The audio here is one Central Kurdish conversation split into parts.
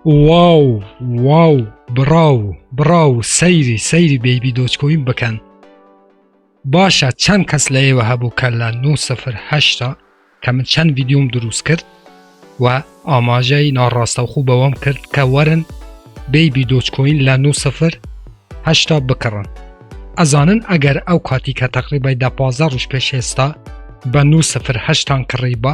واو واو بڕاو بڕاو سەیری سەیری بەیبی دۆچکۆین بکەن باشە چەند کەس لە ئێوە هەبوو کە لە 9هشتا کە من چەند ویددیوم دروست کرد و ئاماژەی ناڕاستەوخو بەوەم کرد کە وەرن بەیبی دۆچکۆین لە 9هشتا بکڕن ئەزانن ئەگەر ئەو کاتی کە تەقریبای دە پازە ڕژ پێش ئێستا بە 9هشتان کڕی بە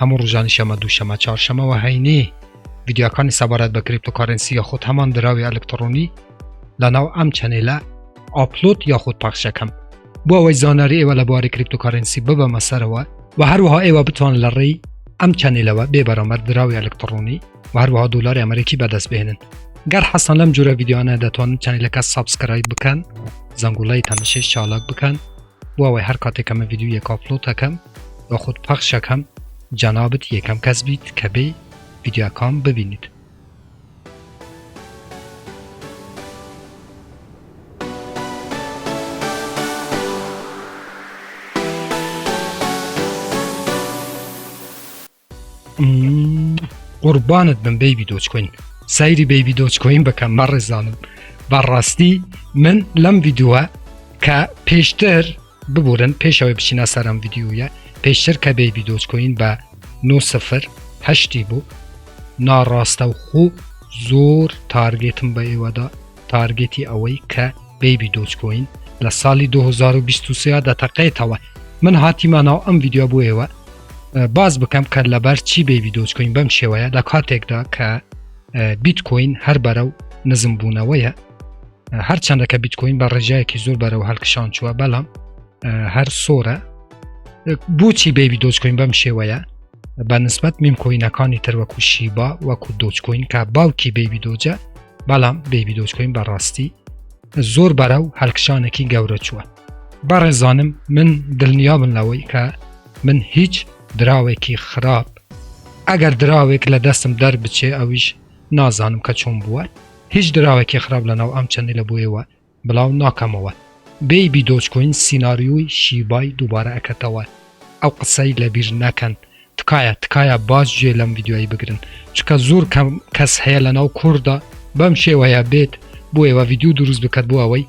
هەموو ڕوژانی شەمە دووشەمە چارشەمە وە هەینی ڤیدیۆکانی سەبارەت بە کریپتۆکارەنسی یاخود هەمان دراوی ئەلکتڕۆنی لە ناو ئەم چەنێلە ئاپلۆد یاخود پەخش ئەکەم بۆ ئەوەی زانیاری ئێوە لە بواری کریپتۆکارەنسی ببەمە سەرەوە و هەروەها ئێوە بتوان لە ڕێی ئەم چەنێلەوە بێ بەرامەر دراوی ئەلکتڕۆنی و هەروەها دۆلاری ئەمریکی بەدەست بهێنن گەر حەسان لەم جورە ڤیددیوانە دەتوانن چەنێلەکە سابسکرایب بکەن زەنگوڵەی تەنشەی چالاک بکەن بۆ ئەوەی هەر کاتێکەمە ڤیددیو یەک ئاپلۆتەکەم بە خود پەخش ئەکەم جەنابت یەکەم کەس بیت کە بێی ڤیدیۆکام ببینیت. قوربانت بم بەیبی دۆچکۆین سەیری بەیبی دۆچکۆین بەکەم بە ڕێزانم بەڕاستی من لەم یددیوە کە پێشتر ببورن پێشەوەی بچینە سەرم یددیوە پێشتر کە بەیبی دۆچکۆین بە 9 سفر هەشتی بوو ناڕاستە و خوو زۆر تارگێتم بە ئێوەدا تارگێتی ئەوەی کە بەیبی دۆجکۆین لە ساڵی 2023 دەتەقێتەوە من هاتیمە ناو ئەم ڤیددیو بۆ ئێوە باز بکەم کە لەبەر چی بەیبی دۆجکۆین بەم شێوەیە لە کاتێکدا کە بیتکۆین هەر بەرە و نزم بوونەوەیە هەرچەندە کە بیتکۆین بە ڕێژایەکی زۆر بەرەوە هەلکشان چووە بەڵام هەر سۆرە بۆچی بەیبی دۆجکۆین بەم شێوەیە بە نسبەت میم کۆینەکانی تر وەکو شیبا وەکو دۆچکۆین کە باوکی بێبی دۆجە بەڵام بێبی دۆچکۆین بەڕاستی زۆر بەرە و هەلکشانێکی گەورە چووە بەڕێزانم من دڵنیا بن لەوەی کە من هیچ دراوێکی خراپ ئەگەر دراوێک لە دەستم دەر بچێ ئەویش نازانم کە چۆن بووە هیچ دراوێکی خراپ لە ناو ئەم چەندی لە بۆیەوە بلاو ناکەمەوە بەیبی دۆجکۆین سیناریۆی شیبای دوبارە ئەکەتەوە ئەو قسەی لەبیر نەکەن تکایە تکایە باش گوێ لەم ڤیدیۆیە بگرن چکە زۆر کەم کەس هەیە لەناو کوردا بەم شێوەیە بێت بۆ ئێوە ڤیدیو دروست بکات بۆ ئەوەی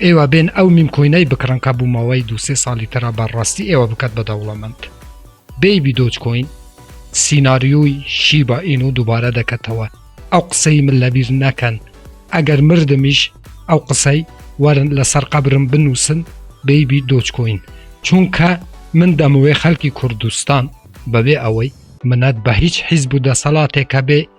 ئێوە بێن ئەو میمکۆینەی بکڕن کە بوومەوەی دوسێ ساڵی ترا بەڕاستی ئێوە بکات بە دەوڵەمەند بەیبی دۆج کۆین سیناریۆی شیبا ئینو دووبارە دەکەتەوە ئەو قسەی من لەبیر نەکەن ئەگەر مردمیش ئەو قسەی وەرن لەسەر قەبرم بنووسن بەیبی دۆج کۆین چونکە من دەمەوێ خەلکی کوردستان بەبێ ئەوەی منەت بە هیچ حیزب و دەسەڵاتێکە بێ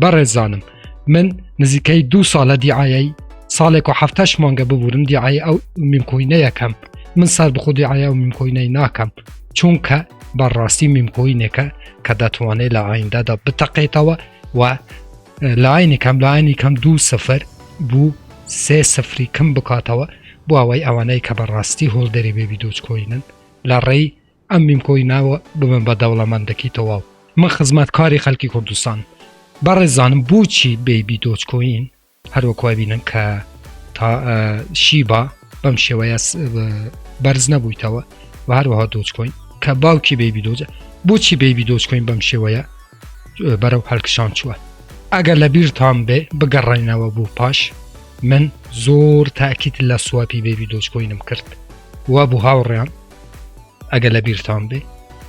بەڕێزانم من نزیکەی دوو ساڵە دیعاایی ساڵێک و هەفتش مانگە ببورم دیعاایی ئەو میمکۆینە یەکەم من سەر بخۆ دیعاە و میمکۆینەی ناکەم چونکە بەڕاستی میمکۆینێکە کە دەتوانێت لە ئایندادا بتەقێتەوە و لاینی کەم لاینی کەم دوو سفر بوو سێ سفری کەم بکاتەوە بۆ ئەوەی ئەوانەی کە بەڕاستی هۆڵدەری بێبی دۆچکۆینن لە ڕێی ئەم میم کۆی ناوە ببن بە دەوڵەمەندەکی تەواو من خزمەت کاری خەلکی کوردستان بەڕێزانم بۆچی بەیبی دۆچ کۆین هەروەک وابینن کە تا شیبا بەم شێوەیە بەرز نەبوویتەوە و هەروەها دۆچ کۆین کە باوکی بەیبی دۆجە بۆچی بەیبی دۆچ کۆین بەم شێوەیە بەرەو هەلکشان چووە ئەگەر لە بیرتان بێ بگەڕێنەوە بوو پاش من زۆر تاکیت لە سوپی بەیبی دۆچ کۆینم کرد وا بوو هاوڕێیان ئەگە لە بیرتان بێ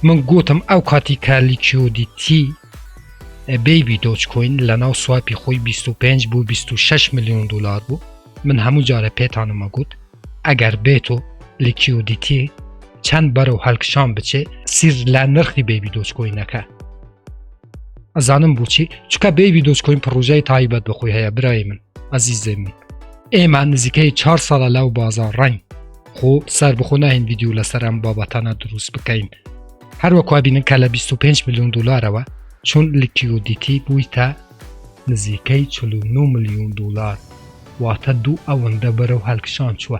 من گوتم ئەو کاتی کارلی چیۆدی تی بەیبی دۆچکۆین لە ناو سوپی خۆی 25 بۆ 26 میلیۆن دلار بوو من هەموو جارە پێتانمە گوت ئەگەر بێت و لکیۆدیتی چەند بەرەو هەلکشان بچێ سیر لە نرخی بەیبی دۆچکۆینەکە ئەزانم بچی چکە بێوی دۆچکۆین پڕۆژای تایبەت بەخۆی هەیە برای من ئەزیزێ من ئێمە نزیکەی چهار ساڵە لەو بازار ڕنگ خۆ سەر بخۆ ناهین ویددیو لەسەر ئەم بابەتانە دروست بکەین هەروەکوا بینن کە لە 25 میلیۆن دلارەوە چون لکیۆدیتی بوویتە نزیکەی 49 میلیۆن دلار واتە دوو ئەوەندە بەرەو هەلکشان چووە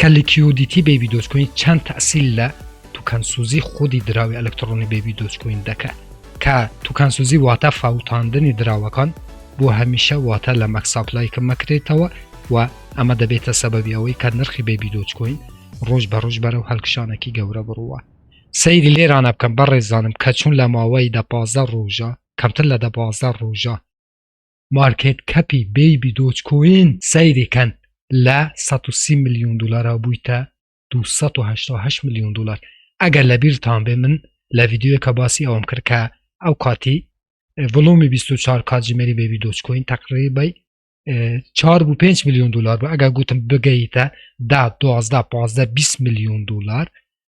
کە لیکیودیتی بەیبی دۆجکۆین چەند تەئسیل لە توکانسوزی خودی دراوی ئەلەکتڕۆنی بەیبی دۆجکۆین دەکات کە توکانسوزی واتە فاوتاندنی دراوەکان بۆ هەمیشە واتە لە مەک ساپلای کم مەکرێتەوە و ئەمە دەبێتە سەبەبی ئەوەی کە نرخی بەیبی دۆجکۆین ڕۆژ بە ڕۆژ بەرەو هەلکشانەکی گەورە بڕوا سەیری لێرانە بکەم بەڕێزانم کە چون لە ماوەی دە پازدە ڕۆژە کەمتر لە دە پازدە ڕۆژە مارکێت کەپی بەیبی دۆج کۆین سەیری کەن لە سەد و سی ملیون دۆلارەوە بوویتە دوو سەد و هەشتا و هەشت ملیون دۆلار ئەگەر لە بیرتان بێ من لە ڤیدیۆیەکە باسی ئەوەم کرد کە ئەو کاتی ڤڵۆمی 24 کات ژمێری بەیبی دۆج کۆین تەقریبای چار بوو 5 میلیۆن دلار بە ئەگە گوتم بگەیتە دا دوازدا پازدە 20 میلیۆن دلار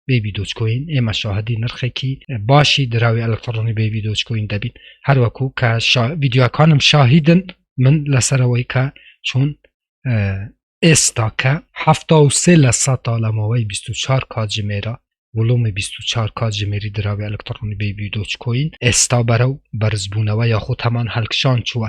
بێبی دۆچکۆین ئێمە شاهدی نرخێکی باشی دراوی ئەلکترۆنی بێبی دۆچکۆین دەبین هەروەکو کە ڤیددیوەکانم شاهیدن من لەسەرەوەی کە چۆن ئێستاکە هەفتا و سێ لە سە تا لەمەوەی 24 کاتژمێرە وڵومی 24 کاتژمێری دراوی ئەلکترۆنی بێبی دۆچکۆین ئێستا بەرە و بەرزبوونەوە یاخود هەمان هەلکشان چووە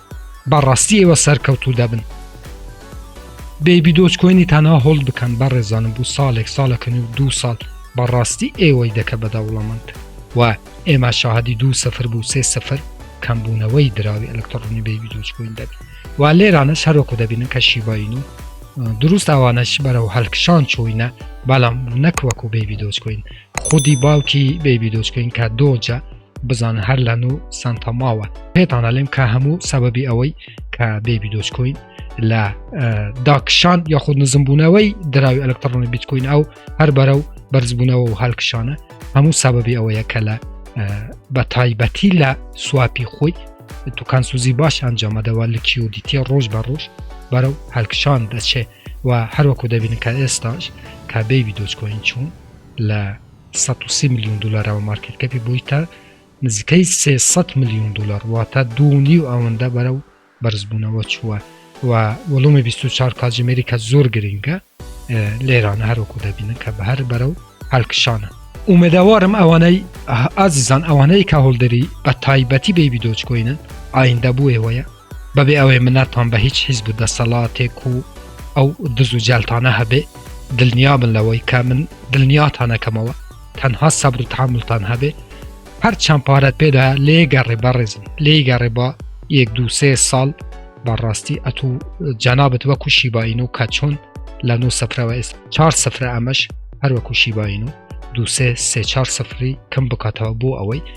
بەڕاستی ئێوە سەرکەوتوو دەبن. بەیبی دۆج کۆینی تەنها هۆڵد بکەن بەڕێزانم بوو ساڵێک ساڵەکەن و دوو ساڵ بەڕاستی ئێوەی دەکە بە دەوڵەمەند و ئێمە شاهدی دوو سفر بوو سێ سفر کەمبوونەوەی دراوی ئەلکتڕۆنی بەیبی دۆج کۆین دەبی و لێرانە شەرۆکو دەبینن کە شیباین و دروست ئەوانەش بەرەو هەلکشان چوینە بەڵام نەکوەکو بەیبی دۆج کۆین خودی باوکی بەیبی دۆج کۆین کە دۆجە بزانە هەر لە نوو سانتا ماوە پێتان ئەلێم کە هەموو سەبەبی ئەوەی کە بێبی دۆچکۆین لە داکشان یاخود نزمبوونەوەی دراوی ئەلکترۆنی بیتکوین ئەو هەر بەرە و بەرزبوونەوە و هەلکشانە هەموو سەبەبی ئەوەیە کە لە بە تایبەتی لە سواپی خۆی توکان سوزی باش ئەنجامەدەوە لە کیودیتە ڕۆژ بە ڕۆژ بەرەو هەلکشان دەچێت و هەروەکو دەبینن کە ئێستاش کە بێبی دۆچکۆین چوون لە سەد و سی ملیۆن دولارە و مارکێت کەپی بوویتە نزیکەی سێ سەد ملیۆن دولار واتە دوو و نیو ئەوەندە بەرەو بەرزبوونەوە چووە و وەڵومی بیست و چوار کاجی مێریکا زۆر گرینگە لێرانە هەروەکو دەبینن کە بە هەر بەرەو هەلکشانە ئومێدەوارم ئەوانەی ئازیزان ئەوانەی کە هۆلدەری بە تایبەتی بێبی دۆچکۆینن ئایندە بووێ وەیە بەبێ ئەوەی منەتان بە هیچ حیزب و دەسەڵاتێک و ئەو دز و جەلتانە هەبێ دلنیابن لەوەی کە من دلنیاتانەکەمەوە تەنها سەبر و تحملتان هەبێ هەر چەند پارەت پێدا لێگەڕێ بەڕێزم لێگەڕێ بە یەک دو سێ ساڵ بەڕاستی ئەتو جەنابەت وەکو شیباین و کە چۆن لە نو سفرەوە ئێست چار سفرە ئەمەش هەروەکو شیباین و دو سێ سێ چار سفری کەم بکاتەوە بۆ ئەوەی